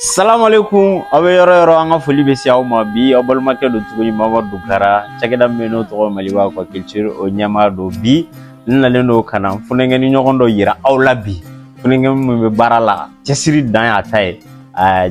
salamu aleykum aw bɛ yɔrɔ yɔrɔ an ka foli bɛ se aw ma bi aw balimakɛ don tuguni mamadu dukara cakɛda min bɛ n'o tɔgɔ maliba aquaculture o ɲɛmaa don bi n nalen don ka na funɛnkɛni ɲɔgɔn dɔ yira aw la bi funɛnkɛni min bɛ baara la cɛsiri dan y'a ta ye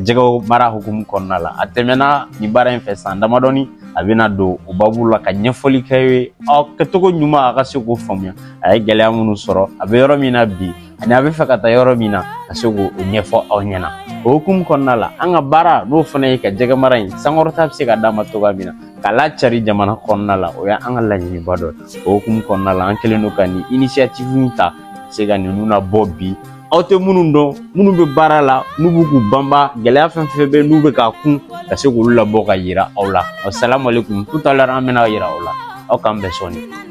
jɛgɛmara hukumu kɔnɔna la a tɛmɛna nin baara in fɛ san damadɔni a bɛna don o babu la ka ɲɛfɔli kɛ ye aw kɛcogo ɲuman a ka se k'o faamuya a ye gɛlɛya minnu sɔrɔ a bɛ yɔrɔ min na bi ani a bɛ fɛ ka taa yɔrɔ min na ka se k'o ɲɛfɔ aw ɲɛna o hukumu kɔnɔna la an ka baara n'o fana ye ka jɛgɛ mara in sankɔrɔta bɛ se ka d'a ma cogoya min na ka lacari jamana kɔnɔna la o y'an ka laɲiniba dɔ ye o hukumu kɔnɔna la an kɛlen don ka nin initiative in ta se ka ninnu labɔ bi aw tɛ minnu dɔn minnu bɛ baara la n'u bɛ k'u banban gɛlɛya fɛn fɛn bɛ n'u bɛ k'a kun ka se k'olu labɔ ka yira aw la salamalekun kutalara an bɛna yira aw la aw k'an bɛn sɔɔni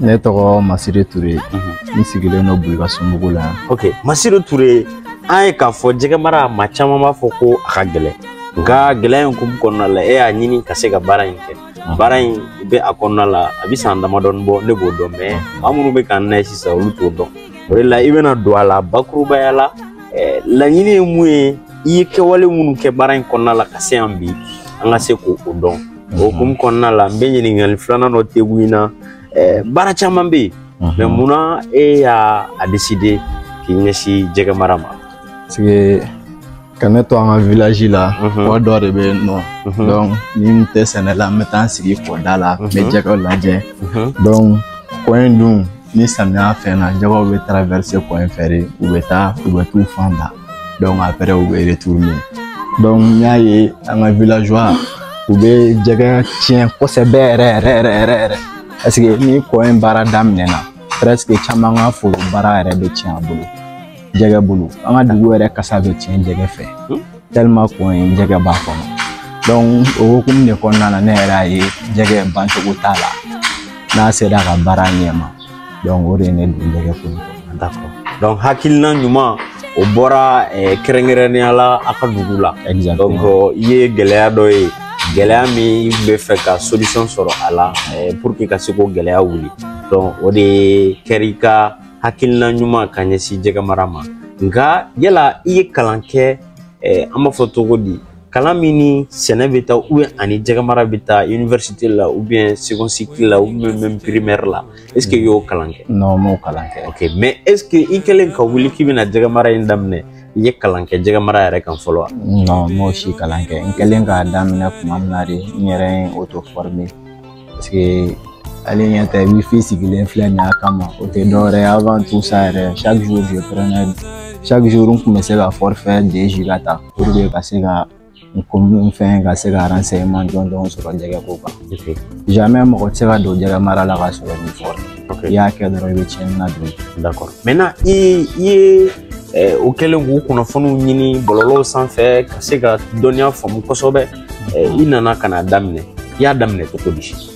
ne tɔgɔ masiri ture n sigilen don bulikasunbugu la ok masiri ture an ye k'a fɔ jɛgɛ mara ma caman b'a fɔ ko a ka gɛlɛn nka gɛlɛya in hukumu kɔnɔna la e y'a ɲini ka se ka baara in kɛ baara in bɛ a kɔnɔna la a bɛ san damadɔni bɔ ne b'o dɔn mais maa minnu bɛ k'an lajɛ sisan olu t'o dɔn o de la i bɛna don a la bakurubaya la eh, laɲini ye mun ye i ye kɛwale minnu kɛ baara in kɔnɔna la ka se yan bi an ka se k'o dɔn o hukumu kɔnɔna la n bɛ ɲininkali filanan dɔ tugu in na eh, baara caman bɛ yen mais munna e y'a décider k'i ɲɛsin jɛgɛ mara ma sigi ka ne to an ka village la mhm. kɔ dɔ de bɛ yen nɔ mhm. donc ni n tɛ sɛnɛ la n bɛ taa n sigi kɔda la n bɛ mhm. jɛgɛw lajɛ donc kɔ in dun ni samiya fɛnna jɛgɛw bɛ traverse kɔ in fɛ de u bɛ taa u bɛ t'u fan da donc après u bɛ retourner donc n y'a ye an ka villageois u bɛ jɛgɛ tiɲɛ kosɛbɛ yɛrɛ yɛrɛ yɛrɛ yɛrɛ yɛrɛ parce que ni kɔ in baara daminɛna presque caman ka foro baara yɛrɛ bɛ tiɲɛ a bolo jɛgɛ bolo an ka dugu yɛrɛ kasa bɛ tiɲɛ jɛgɛ fɛ tilema kɔ in jɛgɛ b'a kɔnɔ donc o hukumu de kɔnɔna la ne yɛrɛ y'a ye jɛgɛ bancogo t'a la n'a sera ka baara ɲɛma donc o de ye ne don jɛgɛko d'accord donc hakilina ɲuman o bɔra eh, kɛrɛnkɛrɛnnenya la a ka dugu la donc euh, i ye gɛlɛya dɔ ye gɛlɛya min i bɛ fɛ ka solution sɔrɔ a la eh, pour que ka se k'o gɛlɛya wuli donc o de ye kɛra i ka hakilina ɲuman ka ɲɛsin jɛgɛmara ma nka yala i ye kalan kɛ eh, an b'a fɔ cogo di kalan min ni sɛnɛ bɛ taa u ani jɛgɛmara bɛ taa université la u bɛ second cycle la u bɛ même primaire la est ce que i y'o kalan kɛ. non n m'o kalan kɛ. ok mais est ce que i kɛlen ka wuli k'i bɛna jɛgɛmara in daminɛ i ye kalan kɛ jɛgɛmara yɛrɛ kan fɔlɔ wa. non n m'o si kalan kɛ n kɛlen k'a daminɛ tuma min na de n yɛrɛ ye auto former parce que ale ɲɛ tɛ wifi sigilen filɛ nin y'a kama o tɛ dɔwɛrɛ ye avant tout ça yɛrɛ chaque jour je prenais chaque jour n tun bɛ se ka forfait de ka taa. pour que ka se ka n ko mun fɛn ka se ka renseignement jɔnjɔn sɔrɔ jɛgɛ ko kan jamais mɔgɔ tɛ se ka don jɛgɛ mara la ka sɔrɔ ni fɔra i y'a kɛ dɔrɔn i bɛ tiɲɛni na don d'accord maintenant i ye eh, o kɛlen k'u kunnafoniw ɲini bɔlɔlɔw sanfɛ ka se ka dɔnniya faamu kosɛbɛ eh, i nana ka n'a daminɛ i y'a daminɛ cogo di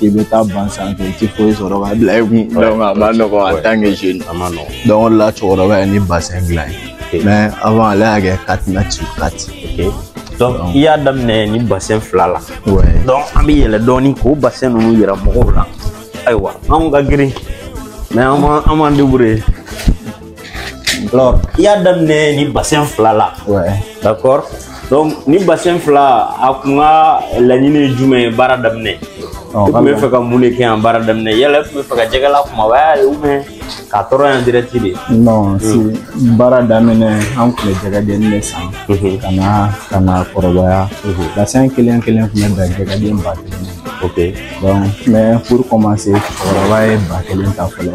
i bɛ taa ban sanfɛ i tɛ foyi sɔrɔ ka bila i kun a man nɔgɔn en tant que jeune a man nɔgɔn o de la cɛkɔrɔba ye nin basɛn dilan n ye mɛ awa ale y'a kɛ kati na ci kati i y'a daminɛ ni basɛn fila la an bɛ yɛlɛ dɔɔnin k'o basɛn ninnu yira mɔgɔw la ayiwa anw ka girin mɛ an b'an deburuye Alors, i y'a daminɛ ni bassin fila la Ouais. d'accord donc ni bassin fila a kun ka laɲini ye jumɛn ye baara daminɛ Ɔ, i tun bɛ fɛ ka mun de kɛ yan baara daminɛ yala i tun bɛ fɛ ka jɛgɛ lakumabaya ye ubiyɛn k'a tɔɔrɔ yan direct de Non, si baara daminɛ an tun bɛ jɛgɛdenni de san Mhm. ka na k'a lakɔrɔbaya bassin kelen kelen tun bɛ dan jɛgɛden ba kelen ma. ok donc mais pour commencer cɛkɔrɔba ye ba kelen ta fɔlɔ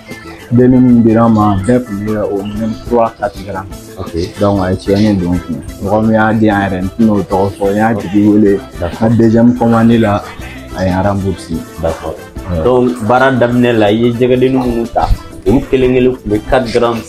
Deni min dira an ma bɛɛ tun bɛ o minɛn kura ta tigɛra a ye tiɲɛni don kun mɔgɔ min y'a di yan yɛrɛ n tɛna o tɔgɔ fɔ n y'a tigi wele ka dezyɛmu kɔmandi la a ye aranburusi baara daminɛ la i ye jɛgɛdennin minnu ta olu kelen kelen tun bɛ kari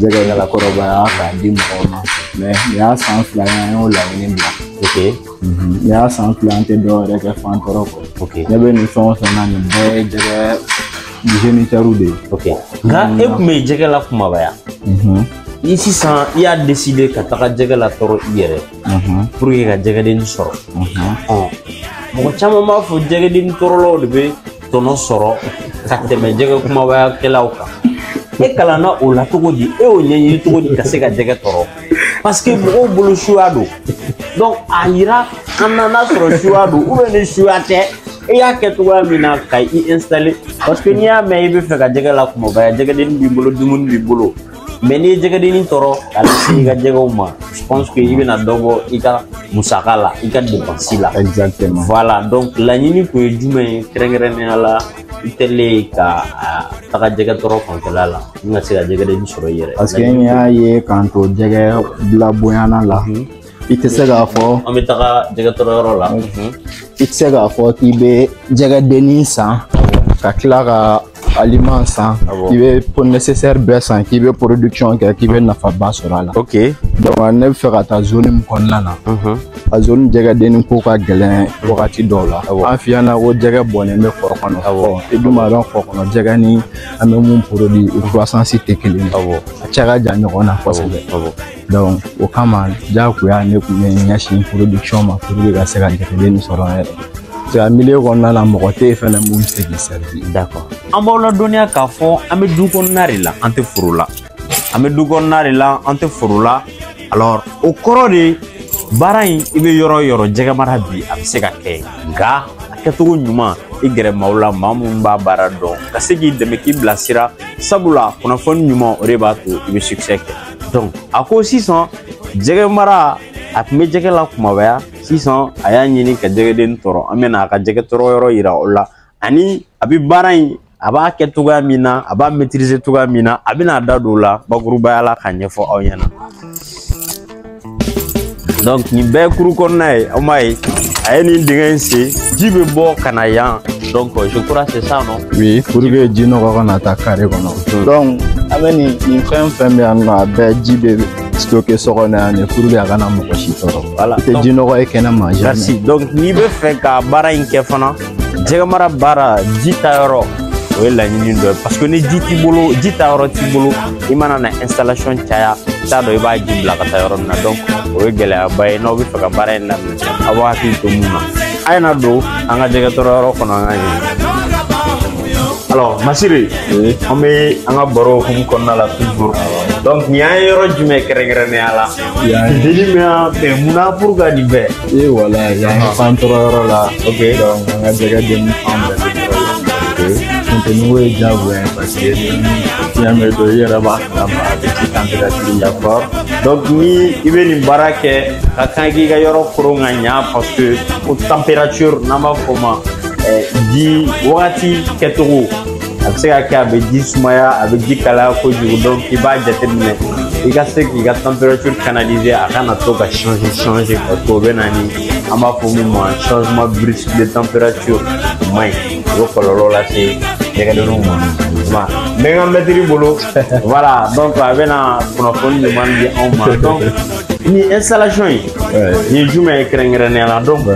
jɛgɛ lakɔrɔbaya k'a di mɔgɔw ma mɛ nin y'a san fila ye an y'o laɲini bila ok nin y'a san fila an tɛ dɔ wɛrɛ kɛ fan tɔɔrɔ kɔ ok ne bɛ nin fɛn o fɛn na nin bɛɛ ye jɛgɛ jenitɛriw de ye ok nka e tun bɛ jɛgɛ lakumabaya i sisan i y'a deside ka taga jɛgɛ latɔɔrɔ i yɛrɛ pour que ka jɛgɛdenni sɔrɔ mɔgɔ caman b'a fɔ jɛgɛdenni tɔɔrɔlaw de bɛ tɔnɔ sɔrɔ ka tɛmɛ jɛgɛ kumabayakɛlaw kan e kalanna o la cogo di e y'o ɲɛɲini cogo di ka se ka jɛgɛ tɔɔrɔ parce que mɔgɔw bolo suya don donc a yira an na n'a sɔrɔ suya don ubiyɛn ni suya tɛ i y'a kɛ cogoya min na ka i installer parce que n'i y'a mɛn i bɛ fɛ ka jɛgɛ lakumabaya jɛgɛdenni b'i bolo dumuni b'i bolo mɛ n'i ye jɛgɛdenni tɔɔrɔ ka lase i ka jɛgɛw ma je pense que i bɛna dɔ bɔ i ka musaka la i ka depansi la exactement voilà donc laɲini kun ye jumɛn ye kɛrɛnkɛrɛnnenya la i tilen ka taga jɛgɛ tɔɔrɔ fanfɛla la n ka se ka jɛgɛdenni sɔrɔ i yɛrɛ parce que n y'a ye k'an to jɛgɛ bila bonyana la mhm. i tɛ se k'a fɔ an bɛ taga jɛgɛtɔɔrɔ yɔrɔ la i tɛ se k'a fɔ k'i bɛ jɛgɛdenni san ka tila ka aliment san k'i bɛ ko nécessaire bɛɛ san k'i bɛ production kɛ k'i bɛ nafaba sɔrɔ a la ok donc ne bɛ fɛ ka taa zone min kɔnɔna na a zone jɛgɛdenni ko ka gɛlɛn wagati dɔw la an fɛ yan na ko jɛgɛ bɔnnen bɛ kɔ kɔnɔ i dun b'a dɔn kɔ kɔnɔ jɛgɛ ni an bɛ min produit u croissance tɛ kelen ye a cɛ ka jan ɲɔgɔn na kosɛbɛ o kama jagoya ne kun bɛ n ɲɛsin production ma pour que ka se ka jate ni sɔrɔ yɛrɛ nka Mali kɔnɔna la mɔgɔ tɛ yen fɛnɛ mun bɛ se k'i sɛbɛn da kɔ an b'aw ladɔnniya k'a fɔ an bɛ du kɔnɔna de la an tɛ foro la an bɛ du kɔnɔna de la an tɛ foro la alors o kɔrɔ de baara in i bɛ yɔrɔ o yɔrɔ jɛgɛ mara bi a bɛ se ka kɛ nka a kɛcogo ɲuman i gɛrɛ maaw la maa minnu b'a baara dɔn ka se k'i dɛmɛ k'i bilasira sabula kunnafoni ɲuman o de b'a to i bɛ succès kɛ donc a ko sisan jɛgɛ mara a tun bɛ jɛgɛ lakumabaya sisan a y'a ɲini ka jɛgɛden tɔrɔ an bɛna a ka jɛgɛ tɔrɔ yɔrɔ yira o la ani a bɛ baara in a b'a kɛ cogoya min na a b'a maîtriser cogoya min na a bɛna a da don o la bakurubaya la k'a ɲɛfɔ aw ɲɛna donc nin bɛɛ cour kɔnɔna ye aw m'a ye a ye nin dingɛ in sen ji bɛ bɔ ka na yan donc je crois c'est ça non oui pour que ji nɔgɔ kana taa kare kɔnɔ hmm. donc an bɛ nin nin fɛn o fɛn bɛ yan nɔ a bɛɛ ji bɛ stocké so kɔnɔ yan de pour que a kana mɔgɔ si tɔɔrɔ voilà i tɛ ji nɔgɔ ye kɛnɛma jamais merci donc n'i bɛ fɛ ka baara in kɛ fana jɛgɛmara baara ji taa yɔrɔ o ye laɲini dɔ ye parce que ni ji t'i bolo ji taa yɔrɔ t'i bolo i mana na installation caya i t'a dɔn i b'a ji bila ka taa yɔrɔ min na donc o ye gɛlɛyaba ye n'aw bɛ fɛ ka baara in daminɛ aw b'aw hakili to mun na a ye na don an ka jɛgɛ tɔrɔ yɔrɔ kɔnɔ an ka ɲɛ Alors, Masiri, oui. an bɛ an ka baro hukumu kɔnɔna la toujours. Donc, nin yan ye yɔrɔ jumɛn kɛrɛnkɛrɛnnenya la Deli bɛ yan fɛ munna pour ka nin bɛɛ ee voilà yan ka fan tɔrɔ yɔrɔ la ok donc an ka jɛgɛ den ni fan bɛɛ la funteni o ye diyagoya ye parce que ni fiɲɛ bɛ don i yɛrɛ b'a kalama a bɛ ci température la fort donc ni i bɛ nin baara kɛ ka kan k'i ka yɔrɔ koron ka ɲa parce que ko température n'an b'a fɔ o ma ji wagati kɛcogo a bɛ se ka kɛ a bɛ ji sumaya a bɛ ji kalaya kojugu donc i b'a jateminɛ i ka se k'i ka température canaliser a kana to ka changer changer parce que o bɛ na ni an b'a fɔ min ma changement brusque de température o man ɲi o bɛ kɔlɔlɔ lase jɛgɛdenninw ma ma n bɛ n ka maître bolo voilà donc a bɛna kunnafoni ɲuman di anw ma donc nin installation nin ye jumɛn ye kɛrɛnkɛrɛnnenya la donc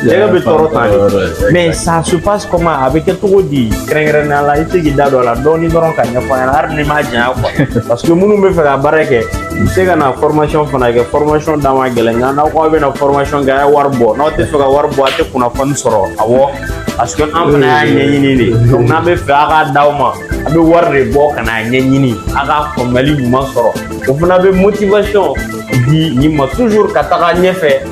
jɛgɛ bɛ tɔrɔ ta de mais ça se passe comment a bɛ kɛ cogo di kɛrɛnkɛrɛnnenya la i tɛ k'i da don a la dɔɔni dɔrɔn k'a ɲɛfɔ an ɲɛna hali n'i m'a janya quoi parce que minnu bɛ fɛ ka baara kɛ u bɛ se ka na formation fana kɛ formation da man gɛlɛn nka n'aw ko aw bɛna formation kɛ a ye wari bɔ n'aw tɛ fɛ ka wari bɔ a tɛ kunnafoni sɔrɔ awɔ parce que an fana y'a ɲɛɲini de donc n'an bɛ fɛ a k'a d'aw ma a bɛ wari de bɔ ka n'a ɲɛɲini a ka faamuyali ɲuman sɔrɔ o fana bɛ motivation di nin ma toujours ka taga ɲɛfɛ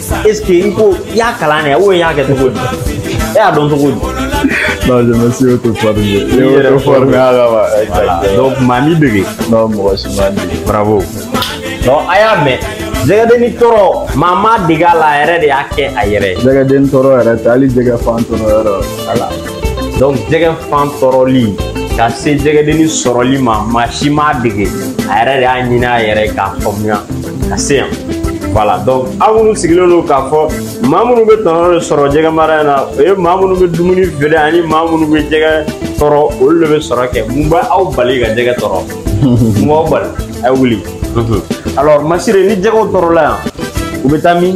est ce que n ko i y'a kalan de ou i y'a kɛ cogo di e y'a dɔn cogo di. non je me suis auto formé. i yɛrɛ auto formé a la wa. voilà donc maa m'i dege. non mɔgɔ si m'a dege. bravo. donc a y'a mɛn. jɛgɛdenni tɔɔrɔ maa m'a dege a la a yɛrɛ de y'a kɛ a yɛrɛ ye. jɛgɛdenni tɔɔrɔ yɛrɛ tɛ hali jɛgɛ fan tɔɔrɔ yɔrɔ. voilà. donc jɛgɛ fan tɔɔrɔli ka se jɛgɛdenni sɔrɔli ma maa si m'a dege a yɛrɛ de y'a ɲini a yɛrɛ k'a faamuya ka se yan voilà donc aw minnu sigilen don k'a fɔ maa minnu bɛ tɔnɔ de sɔrɔ jɛgɛ mara in na o ye maa minnu bɛ dumuni feere ani maa minnu bɛ jɛgɛ tɔɔrɔ olu de bɛ sɔrɔ kɛ mun bɛ aw bali ka jɛgɛ tɔɔrɔ mun b'aw bali a ye wuli alors masire ni jɛgɛw tɔɔrɔla yan u bɛ taa min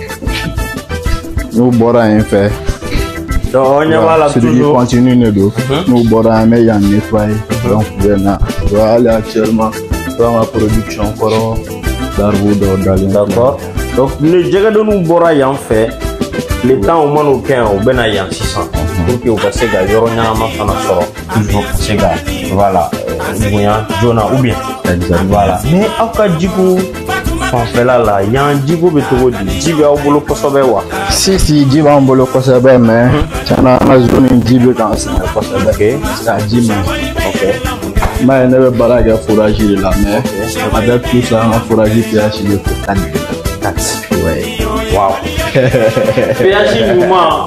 n'u bɔra yen fɛ donc i ɲɛ b'a la circuit continu de don n'u bɔra an bɛ yan nettoyer donc u bɛ na donc hali actuellement donc an ka production kɔrɔ larves dɔw dalen d'accord donc ni jɛgɛdenniw bɔra yan fɛ tile tan u man'o kɛ yan u bɛ na yan sisan pour que u ka se ka yɔrɔ ɲɛnama fana sɔrɔ toujours ka se ka voilà bonya joona ou bien voilà mais aw ka jiko fanfɛla la yan jiko bɛ cogo di ji bɛ aw bolo kosɛbɛ wa si si ji b'an bolo kosɛbɛ mais tiɲɛ na an ka zone ji bɛ k'an sɛgɛn kosɛbɛ ka ji ma m'a ye ne bɛ baara kɛ foraji de la mais avec tout ça an ka foraji pièces bɛ ko tan ni kelen Wow.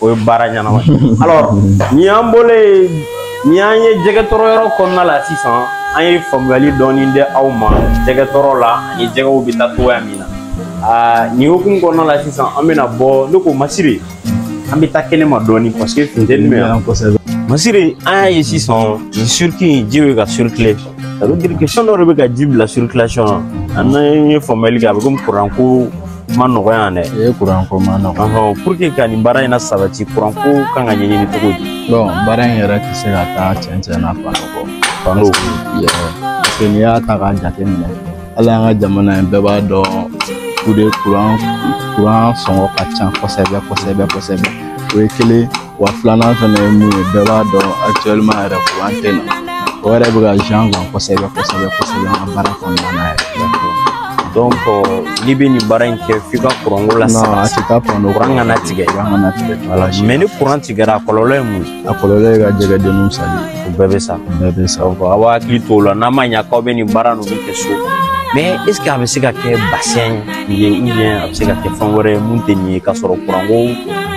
o ye baara ɲɛnama alors ni an bɔlen nin ye jɛgɛ tɔɔrɔ yɔrɔ kɔnɔna la sisan an ye faamuyali dɔɔni di aw ma jɛgɛ tɔɔrɔ la ani jɛgɛw bɛ taa cogoya min na aa nin hukumu kɔnɔna la sisan an bɛna bɔ ne ko masire an bɛ taa kɛnɛ ma dɔɔni parce que funteni bɛ yan kosɛbɛ masire an y'a ye sisan nin circuit in ji bɛ ka circuler ça veut dire que fɛn dɔ de bɛ ka ji bila circulation na an ye faamuyali kɛ a bɛ komi kuranko ma nɔgɔya yan dɛ e kuranko man nɔgɔ pour que ka nin baara in nasabati kuranko kan ka ɲɛɲini cogo di bon baara in yɛrɛ tɛ se ka taa cɛncɛn na panneau kɔ panneau parce que n'i y'a ta k'a jate minɛ hali an ka jamana in bɛɛ b'a dɔn kuran kuran sɔngɔ ka ca kosɛbɛ kosɛbɛ kosɛbɛ o ye kelen wa filanan fɛnɛ ye mun ye bɛɛ b'a dɔn actuellement yɛrɛ kuran tɛ na o yɛrɛ bɛ ka jan kan kosɛbɛ kosɛbɛ kosɛbɛ an ka baara kɔnɔna na yɛrɛ donc n'i bɛ nin baara in kɛ f'i ka kuranko ladon a tɛ taa kuran kɔ kuran kana tigɛ kuran kana tigɛ voilà mais ni kuran tigɛra a kɔlɔlɔ ye mun ye a kɔlɔlɔ ye ka jɛgɛdenninw sali o bɛɛ bɛ sa o bɛɛ bɛ sa donc aw b'aw hakili to o la n'a ma ɲa k'aw bɛ nin baara ninnu kɛ so mais est ce que a bɛ se ka kɛ bassin ye ou bien a bɛ se ka kɛ fɛn wɛrɛ ye min tɛ nin ye k'a sɔrɔ kuranko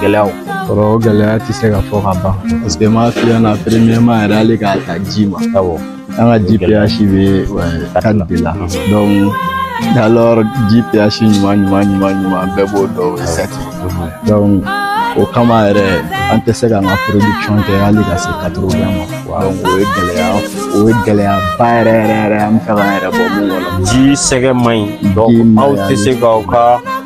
gɛlɛyaw kɔrɔ o gɛlɛya tɛ se ka fɔ ka ban parce que n b'a f'i ɲɛna premièrement yɛrɛ hali k'a ta ji ma awɔ an ka ji ph bɛ ka de la donc alors ji ph ɲuman ɲuman ɲuman ɲuman bɛɛ b'o dɔn o sati donc o kama yɛrɛ an tɛ se k'an ka production kɛ hali ka se katoro bɛɛ ma donc o ye gɛlɛya o ye gɛlɛyaba yɛrɛ yɛrɛ yɛrɛ an bɛ fɛ k'an yɛrɛ bɔ mun kɔnɔ ji sɛgɛ man ɲi donc aw tɛ se k'aw ka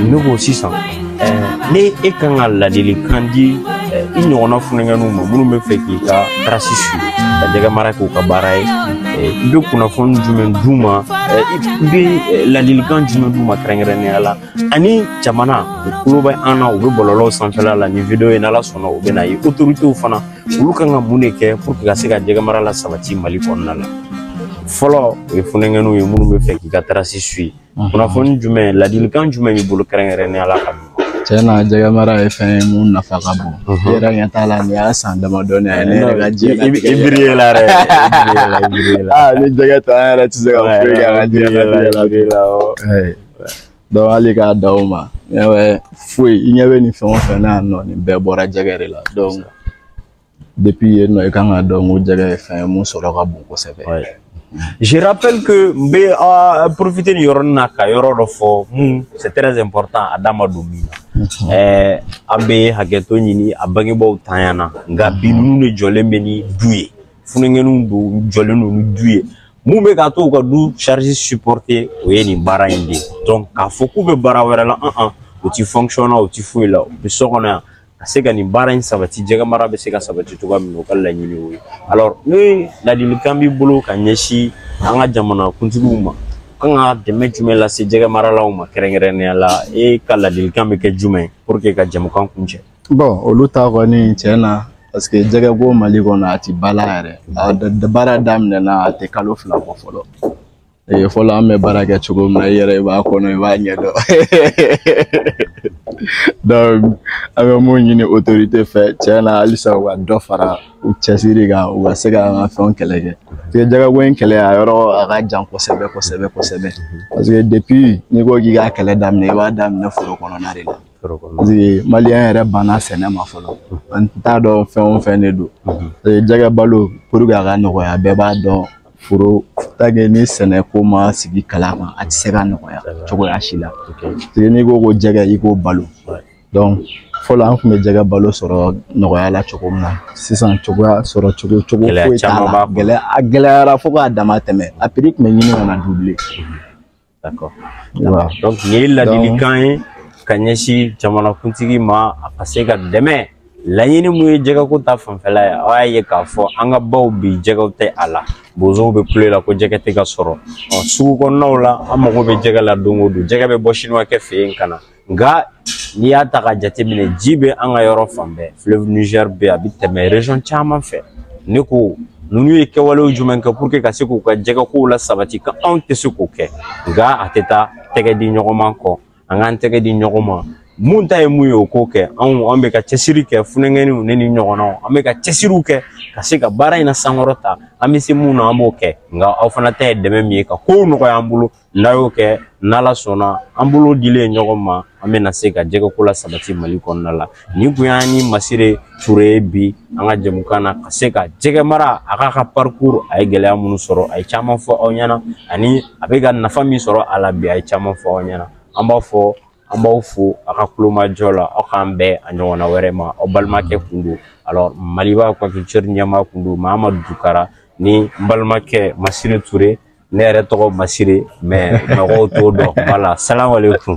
ne ko sisan n'e kan ka ladilikan di i ɲɔgɔnna funukɛninw ma minnu bɛ fɛ k'i ka trace suivre ka jɛgɛ mara k'u ka baara ye i bɛ kunnafoni jumɛn d'u ma i bɛ ladilikan jumɛn d'u ma kɛrɛnkɛrɛnnenya la ani jamana u tulo bɛ an na u bɛ bɔlɔlɔw sanfɛla la nin video ye n'ala sɔnna u bɛ na ye autoritéw fana olu kan ka mun de kɛ pour que ka se ka jɛgɛ mara la sabati mali kɔnɔna la fɔlɔ o ye funukɛninw ye minnu bɛ fɛ k'i ka trace su Mhm. kunnafoni jumɛn ladilikan jumɛn b'i bolo kɛrɛnkɛrɛnnenya la ka tiɲɛ na jɛgɛ mara ye fɛn ye mun nafa ka bon mhm. i yɛrɛ ɲɛ t'a la nin y'a san damadɔnin ye ne yɛrɛ ka diɲɛ i biri ye la dɛ aa ni jɛgɛ tɛ an yɛrɛ tɛ se ka foyi kɛ an ka diɲɛ latigɛ la dɔw hali k'a da o ma foyi i ɲɛ bɛ nin fɛn o fɛn na yan nɔ nin bɛɛ bɔra jɛgɛ de la Depuis yen nɔ i kan k'a dɔn ko jɛgɛ ye fɛn ye mun sɔrɔ ka bon kosɛbɛ. Ouais. Je rappelle que n bɛ ah, profiter nin yɔrɔnin na ka yɔrɔ dɔ fɔ mun c'est très important a da ma don min na. Ɛɛ an bɛ hakɛto ɲini a bangebaaw tanya na nka bi ninnu de jɔlen bɛ ni du ye funukɛninw de jɔlen don ni du ye mun bɛ k'a to u ka du charge supporter o ye nin baara in de ye donc k'a fɔ k'u bɛ baara wɛrɛ la an an u ti fonction na u ti foyi la u bɛ so kɔnɔ yan ka se ka nin baara in sabati jɛgɛ mara bɛ se ka sabati cogoya min na o ka laɲini o ye alors ni ladilikan b'i bolo ka ɲɛsin an ka jamana kuntigiw ma kan ka dɛmɛ jumɛn lase jɛgɛ maralaw ma kɛrɛnkɛrɛnnenya la e ka ladilikan bɛ kɛ jumɛn pour que ka jɛmukan kuncɛ bon olu ta kɔni tiɲɛ na parce que jɛgɛ ko mali kɔnɔ a tɛ bala yɛrɛ a baara daminɛna a tɛ kalo fila bɔ fɔlɔ Ee, fɔlɔ an bɛ baara kɛ cogo min na i yɛrɛ i b'a kɔnɔ i b'a ɲɛ dɔn donc an bɛ mun ɲini autorité fɛ tiɲɛ na halisa u ka dɔ fara u cɛsiri kan u ka se ka an ka fɛnw kɛlɛ kɛ parce que jɛgɛko in kɛlɛ a yɔrɔ a ka jan kosɛbɛ kosɛbɛ kosɛbɛ parce que depuis n'i ko k'i k'a kɛlɛ daminɛ i b'a daminɛ foro kɔnɔna de la Foro kɔnɔ. parce que maliyɛn yɛrɛ banna sɛnɛ ma fɔlɔ an t'a dɔn fɛn o fɛn de don Ee, jɛgɛ balo pour que a ka nɔgɔya bɛɛ b'a dɔn foro tage ni sɛnɛ ko ma sigi kala ma a tɛ se ka nɔgɔya cogoya si la n'i ko ko jɛgɛ i k'o balo donc fɔlɔ an tun bɛ jɛgɛ balo sɔrɔ nɔgɔya la cogo min na sisan cogoya sɔrɔ cogo cogo foyi t'a la gɛlɛya a gɛlɛyara fo k'a damatɛmɛ a prix tun bɛ ɲini ka na D'accord. Voilà. Donc nin ye ladilikan ye ka ɲɛsin jamanakuntigi ma a ka se ka dɛmɛ laɲini mun ye jɛgɛko ta fanfɛla ye aw y'a ye k'a fɔ an ka baw bi jɛgɛw tɛ a la bozow bɛ kulo la ko jɛgɛ tɛ ka sɔrɔ ɔ sugu kɔnɔnaw la an mago bɛ jɛgɛ la don o don jɛgɛ bɛ bɔ sinuwakɛ fɛ yen ka na nka n'i y'a ta k'a jateminɛ ji bɛ an ka yɔrɔ fan bɛɛ fleuve niger bɛ a bɛ tɛmɛ region caman fɛ ne ko ninnu ye kɛwalew jumɛn kɛ pour que ka se k'u ka jɛgɛkow lasabati ka anw tɛ se k'o kɛ nka a tɛ taa tɛgɛ di ɲɔgɔn ma kɔ an k'an tɛgɛ di ɲɔgɔn ma min ta ye min ye o k'o kɛ anw an bɛ ka cɛsiri kɛ funankɛninw ne ni ɲɔgɔnnaw an bɛ ka cɛsiriw kɛ ka se ka baara in nasankɔrɔta an bɛ se min na an b'o kɛ nka aw fana ta ye dɛmɛ min ye ka kow nɔgɔya an bolo n'a y'o kɛ n'ala sɔnna an bolo dilen ɲɔgɔn ma an bɛna se ka jɛgɛko lasabati mali kɔnɔna la nin kun y'an ni masire ture bi an ka jɛmukan na ka se ka jɛgɛ mara a k'a ka parcours a ye gɛlɛya minnu sɔrɔ a ye caman fɔ aw ɲɛ na ani a bɛ ka nafa min sɔrɔ a la bi a ye caman fɔ aw ɲɛ na an b'a fɔ an b'aw fo a ka tulomajɔ la ala k'an bɛn a ɲɔgɔnna wɛrɛ ma aw balimakɛ kun don alors maliba kɔnfitɛri ɲɛmaa kun don mamadu dukara ni n balimakɛ masiri ture ne yɛrɛ tɔgɔ masiri mais mɔgɔw t'o dɔn voilà salamalekun